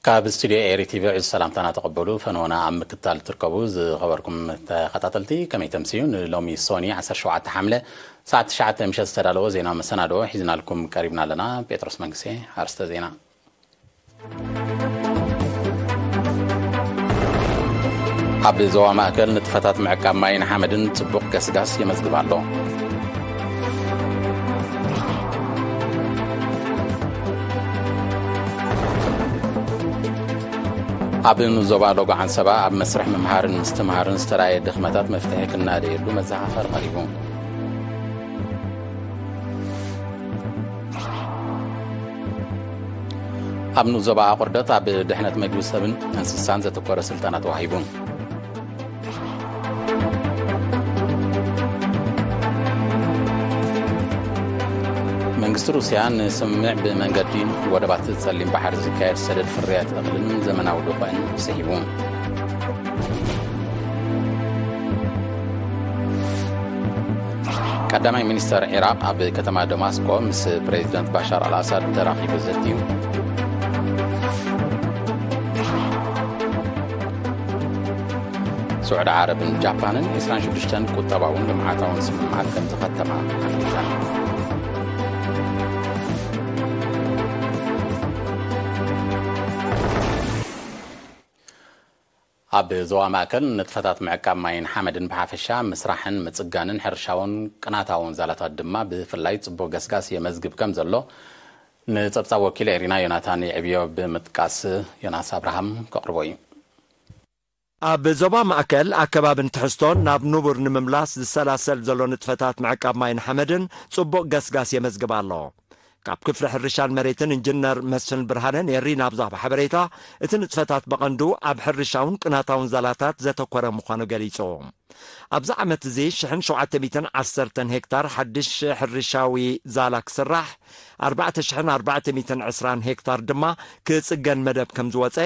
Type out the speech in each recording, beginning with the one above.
ካብ ስቱድዮ ኤሪ ቲቪ ዕዙ ሰላምታና ተቐበሉ ፈነወና ኣብ ምክትታል እትርከቡ ዝኸበርኩም ተኸታተልቲ ከመይ ተምስዩ ንሎሚ ሶኒ 17 ሓምለ ሰዓት 9 ምሸት ዝተዳለወ ዜና መሰናድኦ ሒዝናልኩም ቀሪብና ኣለና ጴጥሮስ መንግስቴ ኣርስተ ዜና ኣብ ዞባ ማእከል ንጥፈታት ምዕቃብ ማይን ሓመድን ጽቡቕ ገስጋስ የመዝግብ ኣሎ ኣብ ዞባ ሎጎ ዓንሰባ ኣብ መስርሕ ምምሃርን ምስትምሃርን ዝተረኣየ ድኽመታት መፍትሒ ክናደየሉ መዘኻኸሪ ቐሪቡ ኣብ ንኡስ ዞባ ኣቑርደት ኣብ ድሕነት መግቢ ሰብን እንስሳን ዘተኮረ ስልጠና ተዋሂቡ መንግስቲ ሩስያ ንስምምዕ ብመንገዲ ወደባት ጸሊም ባሕሪ ዝካየድ ሰደድ ፍርያት እኽልን ዘመናዊ ድኾን ስሒቡ ቀዳማይ ሚኒስተር ዒራቕ ኣብ ከተማ ደማስቆ ምስ ፕሬዚደንት ባሻር ኣልኣሳድ ተራኺቡ ዘትዩ ስዑዲ ዓረብን ጃፓንን 26 ቁጠባውን ልምዓታውን ስምምዓት ከም ዝኸተማ ኣፍሊጠን ኣብ ዞባ ማእከል ንጥፈታት ምዕቃብ ማይን ሓመድን ብሓፈሻ፣ ምስራሕን ምጽጋንን ሕርሻውን ቅናታውን ዛላታት ድማ ብፍላይ ጽቡቕ ገስጋስ የመዝግብ ከም ዘሎ ንጸብጻብ ወኪል ኤሪና ዮናታን ይዕብዮ ብምጥቃስ ዮናስ ኣብርሃም ከቕርቦ እዩ። ኣብ ዞባ ማእከል፣ ኣከባብን ትሕዝቶን ናብ ንቡር ንምምላስ ዝሰላሰል ዘሎ ንጥፈታት ምዕቃብ ማይን ሓመድን ጽቡቕ ገስጋስ የመዝግብ ኣሎ። ካብ ክፍሊ ሕርሻን መሬትን ኢንጂነር መስፍን ብርሃነ ንኤሪና ኣብ ዝሃቦ ሓበሬታ እቲ ንጥፈታት ብቐንዱ ኣብ ሕርሻውን ቅናታውን ዛላታት ዘተኮረ ምዃኑ ገሊጹ። ኣብዚ ዓመት እዚ ሽሕን ሸውዓተ ሚእትን ዓሰርተን ሄክታር ሓድሽ ሕርሻዊ ዛላ ክስራሕ ኣርባዕተ ሽሕን ኣርባዕተ ሚእትን ዕስራን ሄክታር ድማ ክጽገን መደብ ከም ዝወጸ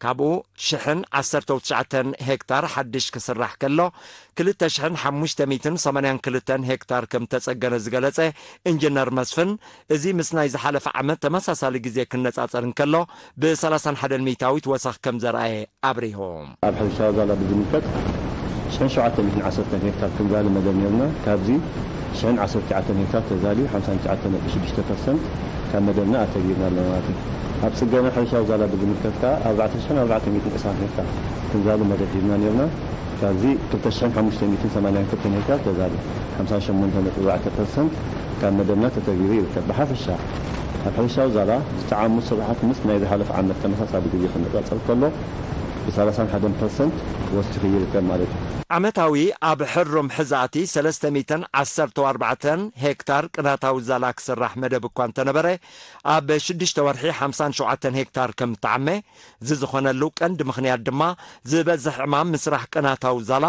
ካብኡ ሽሕን ዓሰርተው ትሽዓተን ሄክታር ሓድሽ ክስራሕ ከሎ ክልተ ሽሕን ሓሙሽተ ሚእትን ሰማንያን ክልተን ሄክታር ከም እተጸገነ ዝገለጸ ኢንጂነር መስፍን፣ እዚ ምስ ናይ ዝሓለፈ ዓመት ተመሳሳሊ ግዜ ክነጻጸር እንከሎ ብ ሰላሳን ሓደን ሚእታዊት ወሰኽ ከም ዘርኣየ ኣብሪሁ። ኣብ ሕርሻዊ ዛላ ብዝምልከት ሽሕን ሸውዓተ ሚእትን ዓሰርተን ሄክታር ክንዛሊ መደብ ኔሩና፣ ካብዚ ሽሕን ዓሰርተ ትሽዓተን ሄክታር ተዛልዩ ሓምሳን ትሽዓተ ነጥቢ ሽዱሽተ ፐርሰንት ካብ መደብና ኣተግቢርና ኣለና ማለት እዩ። ኣብ ጽገና ሕርሻ ዛላ ብዝምልከት ከኣ ኣርባዕተ ሽሕን ኣርባዕተ ሚእትን ዕስራን ሄክታር ክንዛሊ መደብ ሂብና ኔርና። ካብዚ ክልተ ሽሕን ሓሙሽተ ሚእትን ሰማንያን ክልተን ሄክታር ተዛሊ፣ ሓምሳ ሸሞንተ ነጥቢ ኣርባዕተ ፐርሰንት ካብ መደብና ተተግቢሩ ይርከብ። ብሓፈሻ ኣብ ሕርሻዊ ዛላ ዝተዓሙ ስርሓት ምስ ናይ ዝሓለፈ ዓመት ተመሳሳሊ ግዜ ክነጻጸር ከሎ ብሳላሳን ሓደን ፐርሰንት ወሲኹ ይርከብ ማለት እዩ። ዓመታዊ ኣብ ሕሩም ሕዛእቲ ሰለስተ ሚእትን ዓሰርተው ኣርባዕተን ሄክታር ቅናታዊ ዛላ ክስራሕ መደብ እኳ እንተነበረ፣ ኣብ ሽዱሽተ ወርሒ ሓምሳን ሸውዓተን ሄክታር ከም እትዓመ፣ እዚ ዝኾነሉ ቀንዲ ምኽንያት ድማ ዝበዝሕ ዕማም ምስራሕ ቅናታዊ ዛላ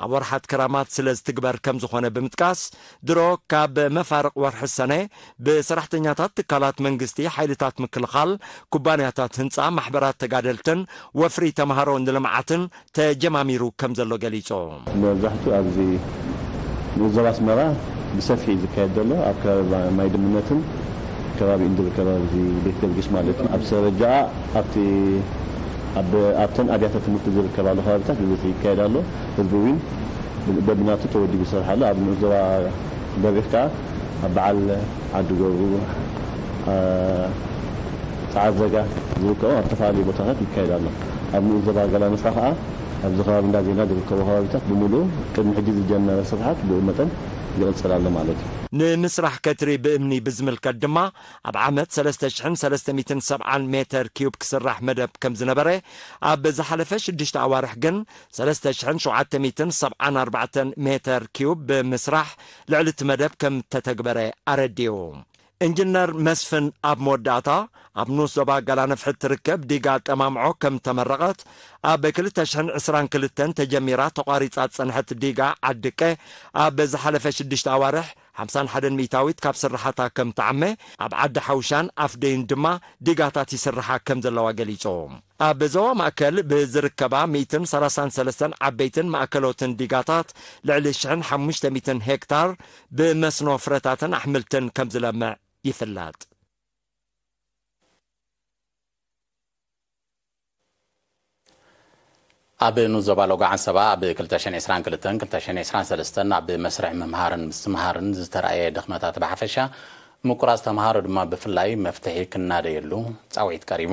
ኣብ ወርሓት ክራማት ስለ ዝትግበር ከም ዝኾነ ብምጥቃስ፣ ድሮ ካብ መፋርቕ ወርሒ ሰነ ብሰራሕተኛታት ትካላት መንግስቲ፣ ሓይልታት ምክልኻል፣ ኩባንያታት ህንጻ፣ ማሕበራት ተጋደልትን ወፍሪ ተማሃሮ ንልምዓትን ተጀማሚሩ ከምዘሎ ገሊፆ። መብዛሕትኡ ኣብዚ ዞባ ኣስመራ ብሰፊሕ እዩ ዝካየድ ዘሎ። ኣብ ከባቢ ማይ ድምነትን ከባቢኡን ዝርከብ ኣብዚ ቤት ጊዮርጊስ ማለት እዩ። ኣብ ሰበጃኣ ኣብቲ ኣብተን ኣብያተ ትምህርቲ ዝርከባሉ ከባቢታት ብብዝሒ ይካየድ ኣሎ። ህዝቢ እውን በብናቱ ተወዲቡ ይሰርሕ ኣሎ። ኣብዚ ንኡስ ዞባ በሪኽ ከኣ ኣብ በዓል ዓዲ ጎቡ፣ ጸዓዘጋ፣ ዝርከቦም ኣብ ዝተፈላለዩ ቦታታት ይካየድ ኣሎ። ኣብ ንኡስ ዞባ ገላንስካ ከኣ ኣብዚ ከባቢ እንዳ ዜና ዝርከቡ ከባቢታት ብምሉኡ ቅድሚ ሕጂ ዝጀመረ ስርሓት ብኡ መጠን ይቕጽል ኣሎ ማለት እዩ። ንምስራሕ ከትሪ ብእምኒ ብዝምልከት ድማ ኣብ ዓመት ሰለስተ ሽሕን ሰለስተ ሚእትን ሰብዓን ሜተር ኪዩብ ክስራሕ መደብ ከም ዝነበረ ኣብ ዝሓለፈ ሽዱሽተ ኣዋርሕ ግን ሰለስተ ሽሕን ሸውዓተ ሚእትን ሰብዓን ኣርባዕተን ሜተር ኪዩብ ብምስራሕ ልዕሊ እቲ መደብ ከም እተተግበረ ኣረዲኡ። ኢንጅነር መስፍን ኣብ መወዳእታ፣ ኣብ ንኡስ ዞባ ገላነፍሒ እትርከብ ዲጋ ጠማምዖ ከም እተመረቐት፣ ኣብ ክልተ ሽሕን ዕስራን ክልተን ተጀሚራ ተቋሪጻ ዝጸንሐት ዲጋ ዓድቀ ኣብ ዝሓለፈ ሽዱሽተ ኣዋርሕ ሓምሳን ሓደን ሚእታዊት ካብ ስርሓታ ከም እትዓመ፣ ኣብ ዓዲ ሓውሻን ኣፍደዩን ድማ ዲጋታት ይስርሓ ከም ዘለዋ ገሊጹ። ኣብ ዞባ ማእከል ብዝርከባ ሚእትን ሰላሳን ሰለስተን ዓበይትን ማእከሎትን ዲጋታት ልዕሊ ሽሕን ሓሙሽተ ሚእትን ሄክታር ብመስኖ ፍረታትን ኣሕምልትን ከም ዝለምዕ ይፍለጥ። ኣብ ንኡስ ዞባ ሎጎ ዓንሰባ ኣብ ክልተ ሽሕን ዕስራን ክልተን ክልተ ሽሕን ዕስራን ሰለስተን ኣብ መስርሕ ምምሃርን ምስትምሃርን ዝተራእየ ድኽመታት ብሓፈሻ ምቁራፅ ተምሃሮ ድማ ብፍላይ መፍትሒ ክናደየሉ ፃውዒት ቀሪቡ።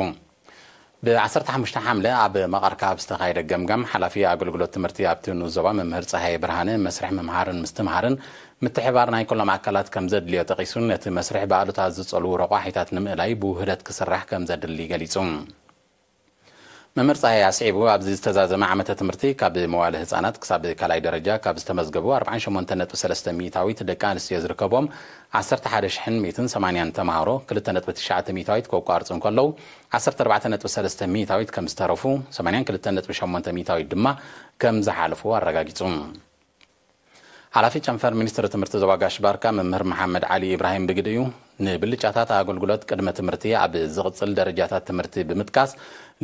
ብ ዓሰርተ ሓሙሽተ ሓምለ ኣብ መቐርካ ኣብ ዝተኻየደ ገምጋም፣ ሓላፊ ኣገልግሎት ትምህርቲ ኣብቲ ንኡስ ዞባ መምህር ጸሃየ ብርሃነ፣ መስርሕ ምምሃርን ምስትምሃርን ምትሕብባር ናይ ኩሎም ኣካላት ከምዘድልዮ ጠቒሱ፣ ነቲ መስርሕ ብኣሉታ ዝጸልዉ ረቋሒታት ንምእላይ ብውህደት ክስራሕ ከምዘድሊ ገሊጹ። መምህር ጸሃየ ኣስዒቡ፣ ኣብዚ ዝተዛዘመ ዓመተ ትምህርቲ ካብ መዋእለ ህጻናት ክሳብ ካልኣይ ደረጃ ካብ ዝተመዝገቡ ኣርብዓን ሸሞንተን ነጥቢ ሰለስተ ሚኢታዊት ደቂ ኣንስትዮ ዝርከብዎም፣ ዓሰርተ ሓደ ሽሕን ሚእትን ሰማንያን ተማሃሮ ክልተ ነጥቢ ትሽዓተ ሚእታዊት ከቋርጹ እንከለዉ፣ ዓሰርተ ኣርባዕተ ነጥቢ ሰለስተ ሚእታዊት ከም ዝተረፉ፣ ሰማንያን ክልተን ነጥቢ ሸሞንተ ሚእታዊት ድማ ከም ዝሓለፉ ኣረጋጊጹ። ሓላፊ ጨንፈር ሚኒስትሪ ትምህርቲ ዞባ ጋሽ-ባርካ መምህር መሓመድ ዓሊ ኢብራሂም ብግዲኡ፣ ንብልጫታት ኣገልግሎት ቅድመ-ትምህርቲ ኣብ ዝቕጽል ደረጃታት ትምህርቲ ብምጥቃስ፣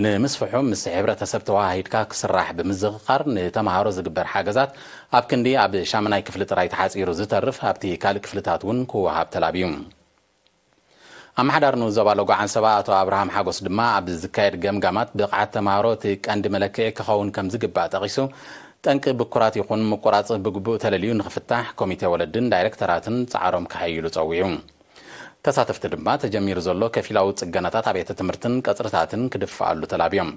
ንምስፍሑ ምስ ሕብረተሰብ ተወሃሂድካ ክስራሕ ብምዝኽኻር፣ ንተመሃሮ ዝግበር ሓገዛት ኣብ ክንዲ ኣብ ሻምናይ ክፍሊ ጥራይ ተሓጺሩ ዝተርፍ ኣብቲ ካልእ ክፍልታት እውን ክወሃብ ተላብዩ። ኣመሓዳሪ ንኡስ ዞባ ሎጎ ዓንሰባ ኣቶ ኣብርሃም ሓጎስ ድማ ኣብ ዝካየድ ገምጋማት ብቕዓት ተመሃሮ እቲ ቀንዲ መለክዒ ክኸውን ከምዝግባእ ጠቒሱ፣ ጠንቂ ብኩራት ይኹን ምቁራጽ ብግቡእ ተለልዩ ንኽፍታሕ ኮሚቴ ወለድን ዳይረክተራትን ጻዕሮም ከሐይሉ ጸዊዑ። ተሳተፍቲ ድማ ተጀሚሩ ዘሎ ከፊላዊ ፅገናታት ኣብያተ ትምህርትን ቀፅርታትን ክድፈኣሉ ተላብዮም።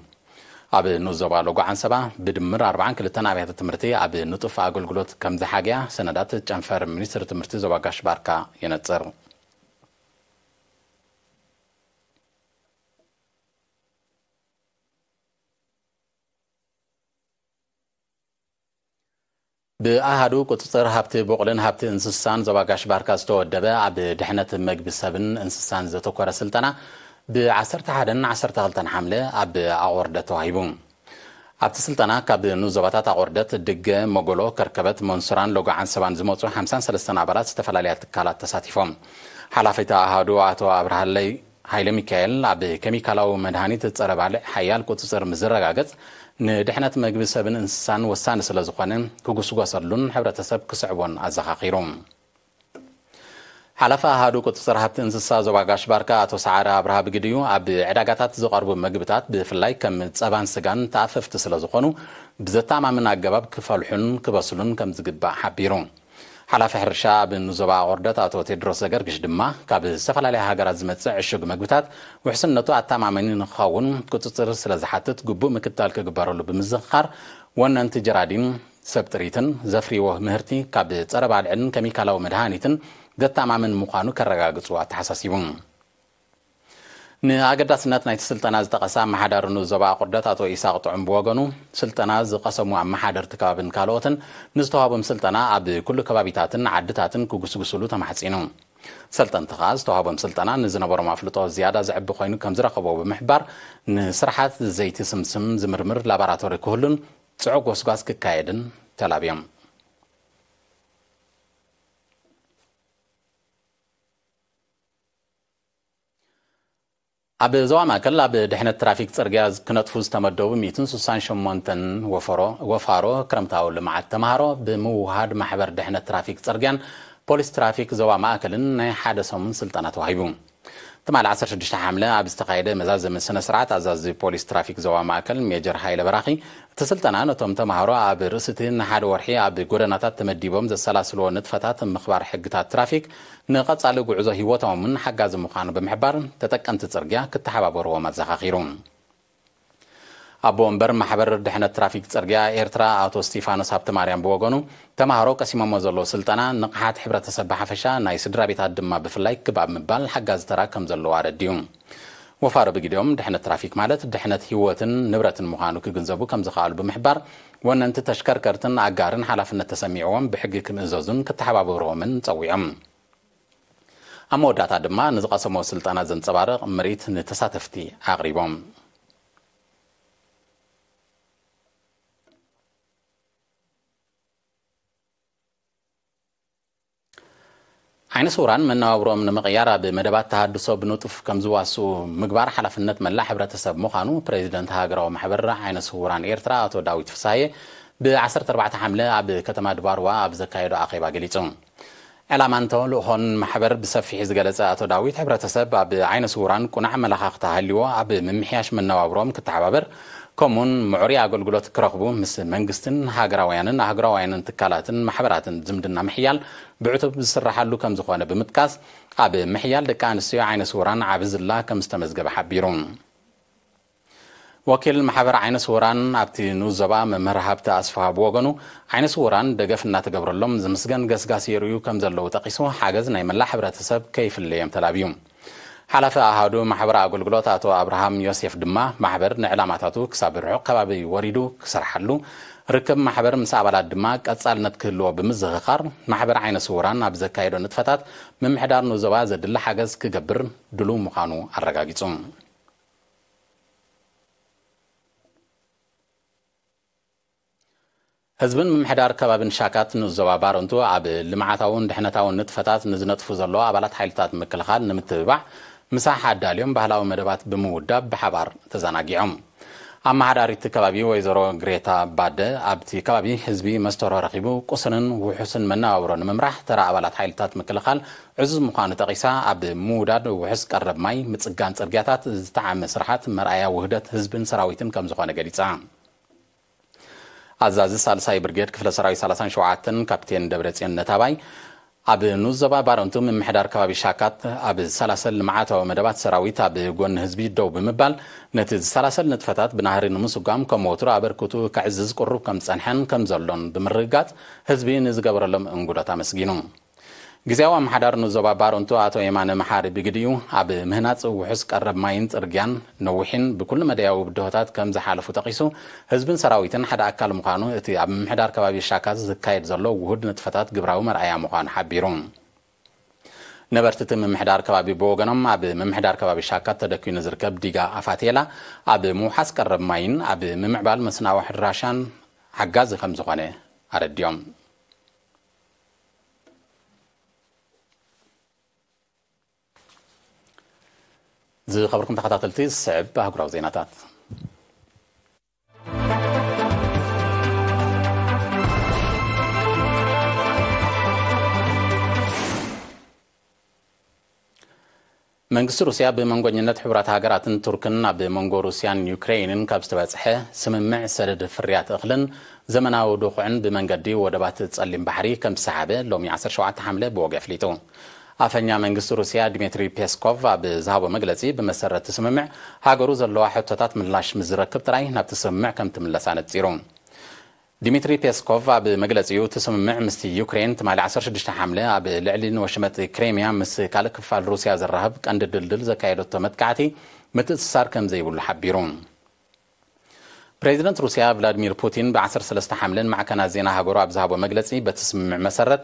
ኣብ ንኡስ ዞባ ሎጎ ዓንሰባ ብድምር ኣርብዓን ክልተን ኣብያተ ትምህርቲ ኣብ ንጡፍ ኣገልግሎት ከምዝሓገያ ሰነዳት ጨንፈር ሚኒስትሪ ትምህርቲ ዞባ ጋሽ ባርካ የነፅር። ብኣሃዱ ቁፅፅር ሃብቲ ቡቕልን ሃብቲ እንስሳን ዞባ ጋሽ ባርካ ዝተወደበ ኣብ ድሕነት መግቢ ሰብን እንስሳን ዘተኮረ ስልጠና ብ ዓሰርተ ሓደን ዓሰርተ ክልተን ሓምለ ኣብ ኣቑርደት ተዋሂቡ። ኣብቲ ስልጠና ካብ ንኡስ ዞባታት ኣቑርደት፣ ድገ፣ መጎሎ፣ ከርከበት፣ መንሱራን ሎጎ ዓንሰባን ዝመፁ ሓምሳን ሰለስተን ኣባላት ዝተፈላለያ ትካላት ተሳቲፎም። ሓላፊ እቲ ኣሃዱ ኣቶ ኣብርሃለይ ሃይለሚካኤል፣ ኣብ ኬሚካላዊ መድሃኒት ጸረ ባልዕ ሓያል ቁጽጽር ምስ ዝረጋገጽ፣ ንድሕነት መግቢ ሰብን እንስሳን ወሳኒ ስለ ዝኾነ ክጉስጎሰሉን ሕብረተሰብ ክስዕቦን ኣዘኻኺሩ። ሓላፊ ኣሃዱ ቁጽጽር ሃብቲ እንስሳ ዞባ ጋሽ ባርካ ኣቶ ሰዓረ ኣብርሃ ብግዲኡ፣ ኣብ ዕዳጋታት ዝቐርቡ መግብታት ብፍላይ ከም ጸባን ስጋን ተኣፈፍቲ ስለ ዝኾኑ ብዘተኣማምን ኣገባብ ክፈልሑን ክበስሉን ከም ዝግባእ ሓቢሩ። ሓላፊ ሕርሻ ኣብ ንዞባ ኣቑርደት ኣቶ ቴድሮስ ዘገርግሽ ድማ ካብ ዝተፈላለያ ሃገራት ዝመጽእ ዕሹግ መግብታት ውሕስነቱ ኣተኣማማኒ ንክኸውን ቁጽጽር ስለዝሓትት ግቡእ ምክትታል ክግበረሉ ብምዝኽኻር ወነንቲ ጀራዲን ሰብ ጥሪትን ዘፍርይዎ ምህርቲ ካብ ጸረ ባልዕን ከሚካላዊ መድሃኒትን ዘተኣማምን ምዃኑ ከረጋግጹ ኣተሓሳሲቡ። ንኣገዳስነት ናይቲ ስልጠና ዝጠቐሰ ኣመሓዳሪ ንኡስ ዞባ ኣቑርደት ኣቶ ኢሳቕ ጥዑም ብወገኑ፣ ስልጠና ዝቐሰሙ ኣመሓደርቲ ከባብን ካልኦትን ንዝተዋህቦም ስልጠና ኣብ ኩሉ ከባቢታትን ዓድታትን ክጉስጉሱሉ ተማሕጺኑ። ሰልጠንቲ ከኣ ዝተዋህቦም ስልጠና ንዝነበሮም ኣፍልጦ ዝያዳ ዘዕቢ ኮይኑ ከምዝረኸብዎ ብምሕባር፣ ንስርሓት ዘይቲ ስምስም ዝምርምር ላባራቶሪ ክህሉን ጽዑቕ ጎስጓስ ክካየድን ተላብዮም። ኣብ ዞባ ማእከል ኣብ ድሕነት ትራፊክ ጽርግያ ክነጥፉ ዝተመደቡ ሚእትን ስሳን ሸሞንተን ወፋሮ ክረምታዊ ልምዓት ተምሃሮ ብምውህሃድ ማሕበር ድሕነት ትራፊክ ጽርግያን ፖሊስ ትራፊክ ዞባ ማእከልን ናይ ሓደ ሰሙን ስልጠና ተዋሂቡ። ትማሊ ዓሰርተ ሽዱሽተ ሓምለ ኣብ ዝተኻየደ መዛዘሚ ስነ ስርዓት ኣዛዚ ፖሊስ ትራፊክ ዞባ ማእከል ሜጀር ሃይለ በራኺ እቲ ስልጠና ነቶም ተምሃሮ ኣብ ርእሲ እቲ ንሓደ ወርሒ ኣብ ጎደናታት ተመዲቦም ዘሰላስልዎ ንጥፈታት ምኽባር ሕግታት ትራፊክ ንቐፃሊ ጉዕዞ ህይወቶም እውን ሓጋዚ ምዃኑ ብምሕባር ተጠቀምቲ ፅርግያ ክተሓባበርዎም ኣዘኻኺሩ። ኣቦ ወንበር ማሕበር ድሕነት ትራፊክ ፅርግያ ኤርትራ ኣቶ እስጢፋኖስ ሃብተማርያም ብወገኑ ተምሃሮ ቀሲሞሞ ዘለዉ ስልጠና ንቕሓት ሕብረተሰብ ብሓፈሻ ናይ ስድራቤታት ድማ ብፍላይ ክብ ኣብ ምባል ሓጋዚ ተራ ከምዘለዎ ኣረዲኡ። ወፋሪ ብግዲኦም፣ ድሕነት ትራፊክ ማለት ድሕነት ህይወትን ንብረትን ምዃኑ ክግንዘቡ ከምዝኸኣሉ ብምሕባር፣ ወነንቲ ተሽከርከርትን ኣጋርን ሓላፍነት ተሰሚዕዎም ብሕጊ ክምእዘዙን ክተሓባበሩዎምን ጸዊዖም። ኣብ መወዳእታ ድማ ንዝቐሰምዎ ስልጠና ዘንጸባርቕ ምርኢት ንተሳተፍቲ ኣቕሪቦም። ዓይነ ስውራን መነባብሮኦም ንምቕያር ኣብ መደባት ተሃድሶ ብንጡፍ ከምዝዋስኡ ምግባር ሓላፍነት መላእ ሕብረተሰብ ምዃኑ ፕረዚደንት ሃገራዊ ማሕበር ዓይነ ስውራን ኤርትራ ኣቶ ዳዊት ፍስሃየ ብ ዓሰርተ ኣርባዕተ ሓምለ ኣብ ከተማ ድባርዋ ኣብ ዘካየዶ ኣኼባ ገሊጹ። ዕላማን ተልእኾን ማሕበር ብሰፊሕ ዝገለጸ ኣቶ ዳዊት ሕብረተሰብ ኣብ ዓይነ ስውራን ቁናዕ ኣመለኻኽታ ሃልዩዎ ኣብ ምምሕያሽ መነባብሮኦም ክተሓባበር ከምኡውን ምዕሩይ ኣገልግሎት ክረኽቡ ምስ መንግስትን ሃገራውያንን ኣህጉራውያንን ትካላትን ማሕበራትን ዝምድና ምሕያል ብዕቱብ ዝስራሓሉ ከምዝኾነ ብምጥቃስ፣ ኣብ ምሕያል ደቂ ኣንስትዮ ዓይነ ስውራን ዓቢ ዝላ ከምዝተመዝገበ ሓቢሩ። ወኪል ማሕበር ዓይነ ስውራን ኣብቲ ንኡስ ዞባ መምህር ሃብተ ኣስፍሃ ብወገኑ፣ ዓይነ ስውራን ደገፍ እናተገብረሎም ዝምስገን ገስጋስ የርእዩ ከምዘለዉ ጠቒሱ፣ ሓገዝ ናይ መላእ ሕብረተሰብ ከይፍለዮም ተላብዩ። ሓላፊ ኣሃዱ ማሕበራዊ ኣገልግሎት ኣቶ ኣብርሃም ዮሴፍ ድማ፣ ማሕበር ንዕላማታቱ ክሳብ ርሑቕ ከባቢ ወሪዱ ክሰርሓሉ፣ ርክብ ማሕበር ምስ ኣባላት ድማ ቀጻልነት ክህልዎ ብምዝኽኻር፣ ማሕበር ዓይነ ስዉራን ኣብ ዘካይዶ ንጥፈታት ምምሕዳር ንዞባ ዘድሊ ሓገዝ ክገብር ድሉው ምዃኑ ኣረጋጊጹ። ህዝብን ምምሕዳር ከባቢን ሻካት ንኡስ ዞባ ባረንቱ ኣብ ልምዓታውን ድሕነታውን ንጥፈታት ንዝነጥፉ ዘለዉ ኣባላት ሓይልታት ምክልኻል ንምትብባዕ ምሳሕ ኣዳልዮም ባህላዊ መደባት ብምውዳብ ብሓባር ተዘናጊዖም። ኣመሓዳሪት ከባቢ ወይዘሮ ግሬታ ባደ ኣብቲ ከባቢ ህዝቢ መስተርሆ ረኺቡ ቁስንን ውሑስን መነባብሮ ንምምራሕ ተራ ኣባላት ሓይልታት ምክልኻል ዕዙዝ ምዃኑ ጠቒሳ ኣብ ምውዳድ ውሑስ ቀረብ ማይ፣ ምፅጋን ፅርግያታት ዝተዓመ ስርሓት መርኣያ ውህደት ህዝብን ሰራዊትን ከምዝኾነ ገሊፃ። ኣዛዚ ሳልሳይ ብርጌድ ክፍለ ሰራዊት ሰላሳን ሸውዓተን ካፒቴን ደብረጽዮን ነታባይ ኣብ ንኡስ ዞባ ባረንቱ ምምሕዳር ከባቢ ሻካት ኣብ ዝሰላሰል ልምዓታዊ መደባት ሰራዊት ኣብ ጎኒ ህዝቢ ደው ብምባል ነቲ ዝሰላሰል ንጥፈታት ብናህሪ ንምስጓም ከም ወትሩ ኣበርክቱ ከዕዝዝ ቅሩብ ከም ዝጸንሐን ከም ዘሎን ብምርግጋጽ ህዝቢ ንዝገበረሎም እንጉዶት ኣመስጊኑ። ግዝያዊ ኣመሓዳሪ ንዞባ ባረንቱ ኣቶ የማነ መሓሪ ብግዲኡ፣ ኣብ ምህናጽ ውሑስ ቀረብ ማይን ጽርግያን ነዊሕን ብኩሉ መዳያዊ ብድሆታት ከም ዝሓለፉ ጠቒሱ፣ ህዝብን ሰራዊትን ሓደ ኣካል ምዃኑ እቲ ኣብ ምምሕዳር ከባቢ ሻካዝ ዝካየድ ዘሎ ውሁድ ንጥፈታት ግብራዊ መርኣያ ምዃኑ ሓቢሩ። ነበርቲ እቲ ምምሕዳር ከባቢ ብወገኖም፣ ኣብ ምምሕዳር ከባቢ ሻካት ተደኲኑ ዝርከብ ዲጋ ኣፋቴላ ኣብ ምውሓስ ቀረብ ማይን ኣብ ምምዕባል መስናዊ ሕራሻን ሓጋዚ ከም ዝኾነ ኣረዲኦም። ዝኸበርኩም ተኸታተልቲ ዝስዕብ ኣህጉራዊ ዜናታት መንግስቲ ሩስያ ብመንጎኝነት ሕቡራት ሃገራትን ቱርክን ኣብ መንጎ ሩስያን ዩክረይንን ካብ ዝተበጽሐ ስምምዕ ሰደድ ፍርያት እኽልን ዘመናዊ ድኹዕን ብመንገዲ ወደባት ጸሊም ባሕሪ ከም ዝሰሓበ ሎሚ ዓሰርተ ሸውዓተ ሓምለ ብወግዒ ኣፍሊጡ። ኣፈኛ መንግስቲ ሩስያ ድሚትሪ ፔስኮቭ ኣብ ዝሃቦ መግለጺ ብመሰረት እቲ ስምምዕ ሃገሩ ዘለዋ ሕቶታት ምላሽ ምስ ዝረክብ ጥራይ ናብቲ ስምምዕ ከም ትምለስ ኣነጺሩ። ዲሚትሪ ፔስኮቭ ኣብ መግለጺኡ፣ እቲ ስምምዕ ምስቲ ዩክሬን ትማሊ ዓሰርተ ሽዱሽተ ሓምለ ኣብ ልዕሊ ንወሽመጥ ክሬምያ ምስ ካልእ ክፋል ሩስያ ዘራኽብ ቀንዲ ድልድል ዘካየደቶ መጥቃዕቲ ምትእስሳር ከምዘይብሉ ሓቢሩ። ፕሬዚደንት ሩስያ ቭላድሚር ፑቲን ብ ዓሰርተ ሰለስተ ሓምለ ንማዕከናት ዜና ሃገሩ ኣብ ዝሃቦ መግለጺ በቲ ስምምዕ መሰረት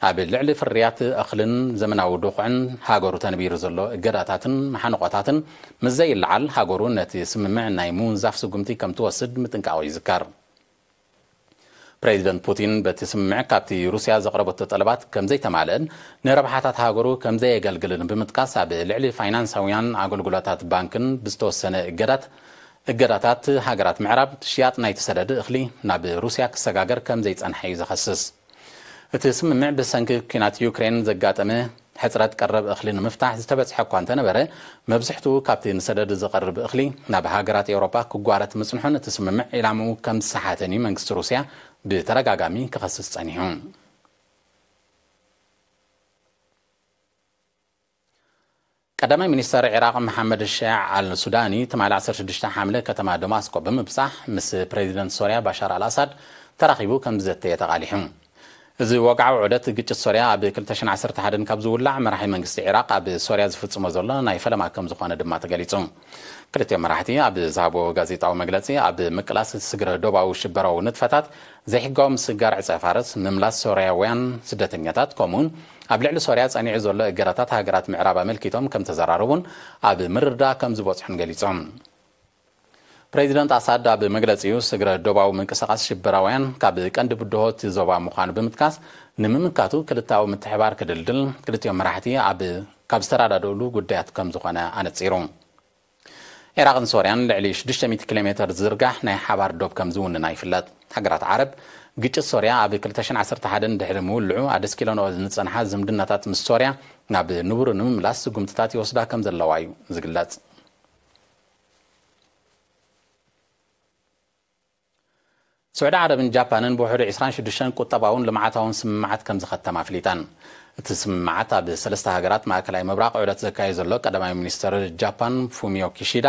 ኣብ ልዕሊ ፍርያት እኽልን ዘመናዊ ድኹዕን ሃገሩ ተንቢሩ ዘሎ እገዳታትን መሓንቖታትን ምስዘይለዓል ሃገሩ ነቲ ስምምዕ ናይ ምውንዛፍ ስጉምቲ ከምትወስድ ምጥንቃቑ ይዝከር። ፕረዚደንት ፑቲን በቲ ስምምዕ ካብቲ ሩስያ ዘቕረበቶ ጠለባት ከም ዘይተማልእን ንረብሓታት ሃገሩ ከም ዘየገልግልን ብምጥቃስ ኣብ ልዕሊ ፋይናንሳውያን ኣገልግሎታት ባንክን ብዝተወሰነ እገዳት እገዳታት ሃገራት ምዕራብ ሽያጥ ናይቲ ሰደድ እኽሊ ናብ ሩስያ ክሰጋገር ከም ዘይጸንሐ እዩ ዝኸስስ። እቲ ስምምዕ ብሰንኪ ኲናት ዩክሬን ዘጋጠመ ሕጽረት ቀረብ እኽሊ ንምፍታሕ ዝተበጽሐ እኳ እንተነበረ፣ መብዝሕትኡ ካብቲ ንሰደድ ዝቐርብ እኽሊ ናብ ሃገራት ኤውሮጳ ክጓረት ምጽንሑን እቲ ስምምዕ ዒላምኡ ከም ዝሰሓተን እዩ መንግስቲ ሩስያ ብተደጋጋሚ ክኸስስ ጸኒሑ። ቀዳማይ ሚኒስተር ዒራቕ መሓመድ ሸያዕ ኣል ሱዳኒ ትማሊ ዓሰርተ ሽዱሽተ ሓምለ ከተማ ደማስቆ ብምብጻሕ ምስ ፕረዚደንት ሶርያ ባሻር ኣል ኣሳድ ተራኺቡ ከም ዝዘተየ ተቓሊሑ። እዚ ወግዓዊ ዑደት ግጭት ሶርያ ኣብ ክልተ ሽሕን ዓሰርተ ሓደን ካብ ዝውላዕ መራሒ መንግስቲ ዒራቕ ኣብ ሶርያ ዝፍጽሞ ዘሎ ናይ ፈለማ ከም ዝኾነ ድማ ተገሊጹ። ክልቲኦም መራሕቲ ኣብ ዝሃብዎ ጋዜጣዊ መግለጺ፣ ኣብ ምቅላስ ስግረ ዶባዊ ሽበራዊ ንጥፈታት፣ ዘይሕጋዊ ምስግጋር ዕጸ-ፋርስ፣ ምምላስ ሶርያውያን ስደተኛታት፣ ከምኡ'ውን ኣብ ልዕሊ ሶርያ ጸኒዑ ዘሎ እገዳታት ሃገራት ምዕራብ ኣመልኪቶም ከምተዘራረቡን ኣብ ምርድዳእ ከምዝበጽሑን ገሊጾም። ፕረዚደንት ኣሳድ ኣብ መግለጺኡ፣ ስግረ ዶባዊ ምንቅስቓስ ሽበራውያን ካብ ቀንዲ ብድሆ እቲ ዞባ ምዃኑ ብምጥቃስ፣ ንምምካቱ ክልተኣዊ ምትሕብባር ክድልድል ክልቲኦም መራሕቲ ኣብ ካብ ዝተረዳድእሉ ጉዳያት ከም ዝኾነ ኣነጺሩ። ዒራቕን ሶርያን ልዕሊ ሽዱሽተ ሚእቲ ኪሎ ሜተር ዝዝርጋሕ ናይ ሓባር ዶብ ከም ዝውንና ይፍለጥ። ሃገራት ዓረብ፣ ግጭት ሶርያ ኣብ ክልተ ሽሕን ዓሰርተ ሓደን ድሕሪ ምውልዑ ኣደስኪለንኦ ዝጸንሓ ዝምድናታት ምስ ሶርያ ናብ ንቡሩ ንምምላስ ስጉምትታት ይወስዳ ከም ዘለዋ'ዩ ዝግለጽ። ስዑዲ ዓረብን ጃፓንን ብውሕዱ ዕስራን ሽዱሽተን ቁጠባውን ልምዓታውን ስምምዓት ከምዝኸተማ ኣፍሊጠን። እቲ ስምምዓት ኣብ ሰለስተ ሃገራት ማእከላይ ምብራቕ ዑደት ዘካይድ ዘሎ ቀዳማይ ሚኒስተር ጃፓን ፉሚዮ ኪሺዳ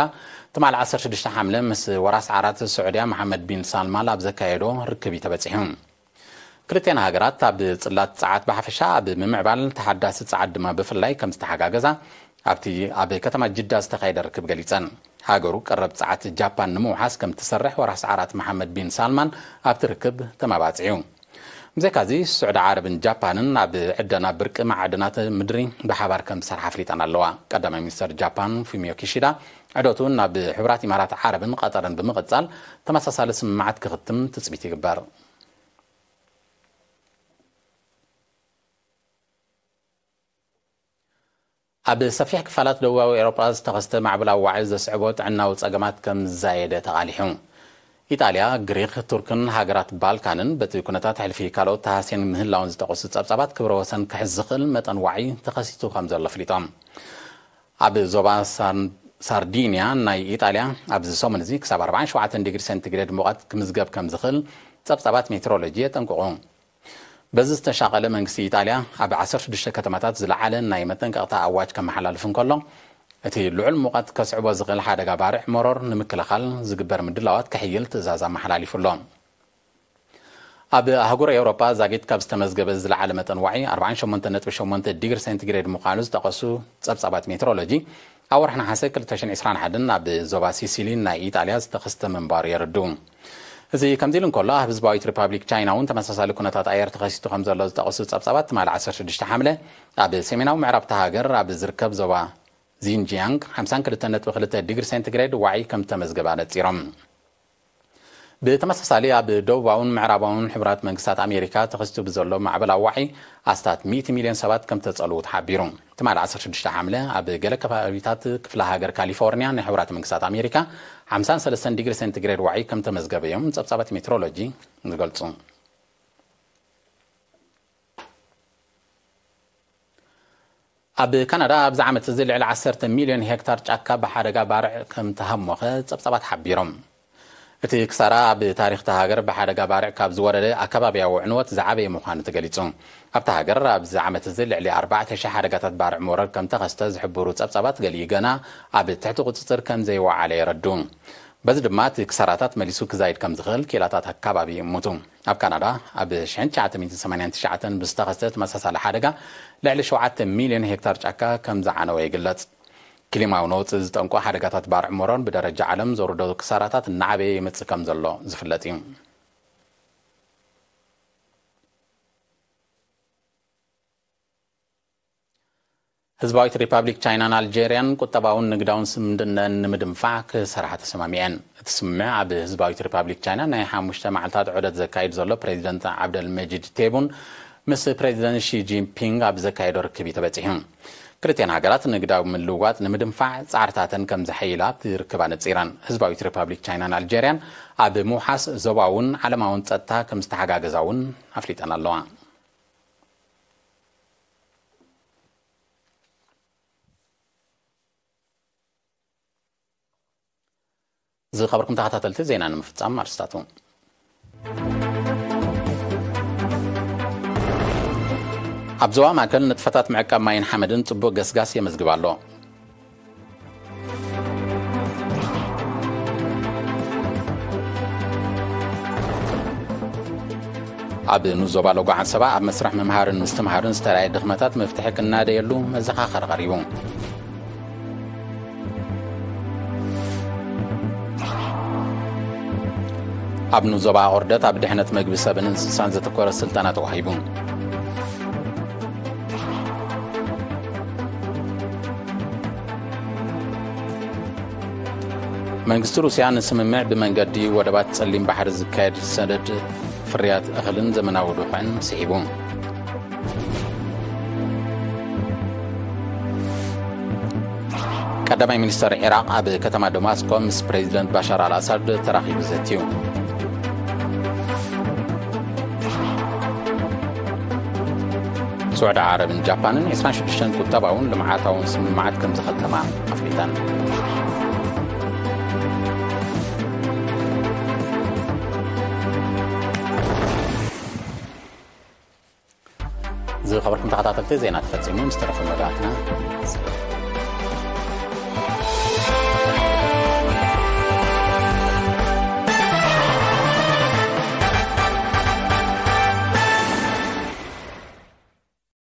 ትማል ዓሰርተ ሽዱሽተ ሓምለ ምስ ወራስ ዓራት ስዑድያ መሓመድ ቢን ሳልማል ኣብ ዘካየዶ ርክብ እዩ ተበጺሑ። ክልቲኣን ሃገራት ኣብ ጽላት ጸዓት ብሓፈሻ ኣብ ምምዕባል ተሓዳሲ ጸዓት ድማ ብፍላይ ከምዝተሓጋገዛ ኣብቲ ኣብ ከተማ ጅዳ ዝተኻየደ ርክብ ገሊጸን። ሃገሩ ቀረብ ጸዓት ጃፓን ንምውሓስ ከምትሰርሕ ወራስ ዓራት መሓመድ ቢን ሳልማን ኣብቲ ርክብ ተመባጺዑ። ብዘይካዚ ስዑዲ ዓረብን ጃፓንን ኣብ ዕደና ብርቂ መዓድናት ምድሪ ብሓባር ከምዝሰርሓ ኣፍሊጠን ኣለዋ። ቀዳማይ ሚኒስተር ጃፓን ፉሚዮ ኪሺዳ ዑደቱ ናብ ሕቡራት ኢማራት ዓረብን ቐጠርን ብምቕፃል ተመሳሳሊ ስምምዓት ክኽትም ትፅቢት ይግበር። ኣብ ሰፊሕ ክፋላት ደቡባዊ ኤውሮጳ ዝተኸስተ ማዕበላዊ ዋዒ ዘስዕቦ ጥዕናዊ ጸገማት ከም ዝዛየደ ተቓሊሑ። ኢጣልያ፣ ግሪኽ፣ ቱርክን ሃገራት ባልካንን በቲ ኩነታት ሕልፊ ካልኦት ተሃስየን ምህላወን ዝጠቐሱ ጸብጻባት ክብረ ወሰን ክሕዝ ዝኽእል መጠን ዋዒ ተኸሲቱ ከም ዘሎ ኣፍሊጦም። ኣብ ዞባ ሳርዲንያ ናይ ኢጣልያ ኣብዚ ሰሙን እዚ ክሳብ ኣርባዓን ሸውዓተን ዲግሪ ሰንቲግሬድ ሙቐት ክምዝገብ ከምዝኽእል ጸብጻባት ሜትሮሎጂ የጠንቅቑ። በዚ ዝተሻቐለ መንግስቲ ኢጣልያ ኣብ ዓሰርተ ሽዱሽተ ከተማታት ዝለዓለ ናይ መጠንቀቕታ ኣዋጅ ከመሓላልፍ እንከሎ፣ እቲ ልዑል ሙቐት ከስዕቦ ዝኽእል ሓደጋ ባርዕ መሮር ንምክልኻል ዝግበር ምድላዋት ከሕይል ትእዛዝ ኣመሓላሊፉ ኣሎ። ኣብ ኣህጉር ኤውሮጳ ዛጊት ካብ ዝተመዝገበ ዝለዓለ መጠን ዋዒ፣ ኣርብዓን ሸሞንተን ነጥቢ ሸሞንተ ዲግሪ ሴንቲግሬድ ምዃኑ ዝጠቐሱ ጸብጻባት ሜትሮሎጂ፣ ኣብ ወርሒ ነሓሰ ክልተ ሽሕን ዕስራን ሓደን ኣብ ዞባ ሲሲሊን ናይ ኢጣልያ ዝተኸስተ ምንባሩ የረድኡ። እዚ ከምዚ ኢሉ እንከሎ፣ ኣብ ህዝባዊት ሪፓብሊክ ቻይና'ውን ተመሳሳሊ ኩነታት ኣየር ተኸሲቱ ከምዘሎ ዝጠቐሱ ጸብጻባት፣ ትማሊ ዓሰርተ ሽዱሽተ ሓምለ ኣብ ሰሜናዊ ምዕራብ እታ ሃገር ኣብ ዝርከብ ዞባ ዚንጂያንግ ሓምሳን ክልተን ነጥቢ ክልተ ዲግሪ ሴንቲግሬድ ዋዒ ከምዝተመዝገበ ኣነጺሮም። ብተመሳሳሊ ኣብ ደቡባውን ምዕራባውን ሕቡራት መንግስታት ኣሜሪካ ተኸሲቱ ብዘሎ ማዕበል ኣዋዒ ኣስታት ሚእቲ ሚልዮን ሰባት ከምተጸልዉ ተሓቢሩ። ትማሊ ዓሰርተ ሽዱሽተ ሓምለ ኣብ ገለ ከባቢታት ክፍለ ሃገር ካሊፎርንያ ናይ ሕቡራት መንግስታት ኣሜሪካ ሓምሳን ሰለስተን ዲግሪ ሴንቲግሬድ ዋዒ ከምተመዝገበ'ዮም ጸብጻባት ሜትሮሎጂ ዝገልጹ። ኣብ ካናዳ ኣብዚ ዓመት እዚ ልዕሊ ዓሰርተ ሚልዮን ሄክታር ጫካ ብሓደጋ ባርዕ ከም ተሃሞኸ ጸብጻባት ሓቢሮም። እቲ ክሳራ ኣብ ታሪኽ እታ ሃገር ብሓደጋ ባርዕ ካብ ዝወረደ ኣከባብያዊ ዕንወት ዝዓበየ ምዃኑ ተገሊጹ። ኣብታ ሃገር ኣብዚ ዓመት እዚ ልዕሊ ኣርባዕተ ሽሕ ሓደጋታት ባርዕ መውረር ከም ተኸስተ ዝሕብሩ ጸብጻባት ገሊኡ ገና ኣብ ትሕቲ ቁጽጽር ከም ዘይወዓለ የረድኡ። በዚ ድማ እቲ ክሳራታት መሊሱ ክዛይድ ከም ዝኽእል ክኢላታት ኣከባቢ ይእምቱ። ኣብ ካናዳ ኣብ ሽሕን ትሽዓተ ሚእትን ሰማንያን ትሽዓተን ብዝተኸስተ ተመሳሳሊ ሓደጋ ልዕሊ ሸውዓተ ሚልዮን ሄክታር ጫካ ከምዝዓነወ ይግለጽ። ክሊማዊ ነውጺ ዝጠንቁ ሓደጋታት ባርዕ ሞሮን ብደረጃ ዓለም ዘውርዶ ክሳራታት እናዓበየ ይመጽእ ከምዘሎ ዝፍለጥ እዩ። ህዝባዊት ሪፓብሊክ ቻይናን ኣልጀርያን ቁጠባውን ንግዳውን ስምምድነን ንምድንፋዕ ክሰርሓ ተሰማሚዐን። እቲ ስምምዕ ኣብ ህዝባዊት ሪፓብሊክ ቻይና ናይ ሓሙሽተ መዓልታት ዑደት ዘካይድ ዘሎ ፕሬዚደንት ዓብደልመጂድ ቴቡን ምስ ፕሬዚደንት ሺ ጂንፒንግ ኣብ ዘካየዶ ርክብ እዩ ተበፂሑ። ክልቲኤን ሃገራት ንግዳዊ ምልውዋጥ ንምድንፋዕ ፃዕርታተን ከም ዘሐይላ ኣብቲ ርክብ ኣነፂረን። ህዝባዊት ሪፓብሊክ ቻይናን ኣልጀርያን ኣብ ምውሓስ ዞባውን ዓለማውን ፀጥታ ከም ዝተሓጋገዛ እውን ኣፍሊጠን ኣለዋ። ዝኸበርኩም ተኸታተልቲ ዜና ንምፍፃም ኣርስታቱ ኣብ ዞባ ማእከል ንጥፈታት ምዕቃብ ማይን ሓመድን ጽቡቕ ገስጋስ የመዝግብ ኣሎ ኣብ ንኡስ ዞባ ሎጎ ዓሰባ ኣብ መስርሕ ምምሃርን ምስትምሃርን ዝተለያየ ድኽመታት መፍትሒ ክናደየሉ መዘኻኸሪ ቀሪቡ ኣብ ንኡስ ዞባ ኣቑርደት ኣብ ድሕነት መግቢ ሰብን እንስሳን ዘተኮረ ስልጠና ተዋሂቡ መንግስቲ ሩስያ ንስምምዕ ብመንገዲ ወደባት ጸሊም ባሕሪ ዝካየድ ሰደድ ፍርያት እኽልን ዘመናዊ ዱሑዕን ስሒቡ ቀዳማይ ሚኒስተር ዒራቅ ኣብ ከተማ ደማስቆ ምስ ፕሬዚደንት ባሻር ኣልኣሳድ ተራኺቡ ዘትዩ ስዑዲ ዓረብን ጃፓንን 26 ቁጠባውን ልምዓታውን ስምምዓት ከም ዝኸተማ ኣፍሊጠን ዝኸበርኩም ተኸታተልቲ ዜና ተፈፂሙ ምስ ተረፈ መዳትና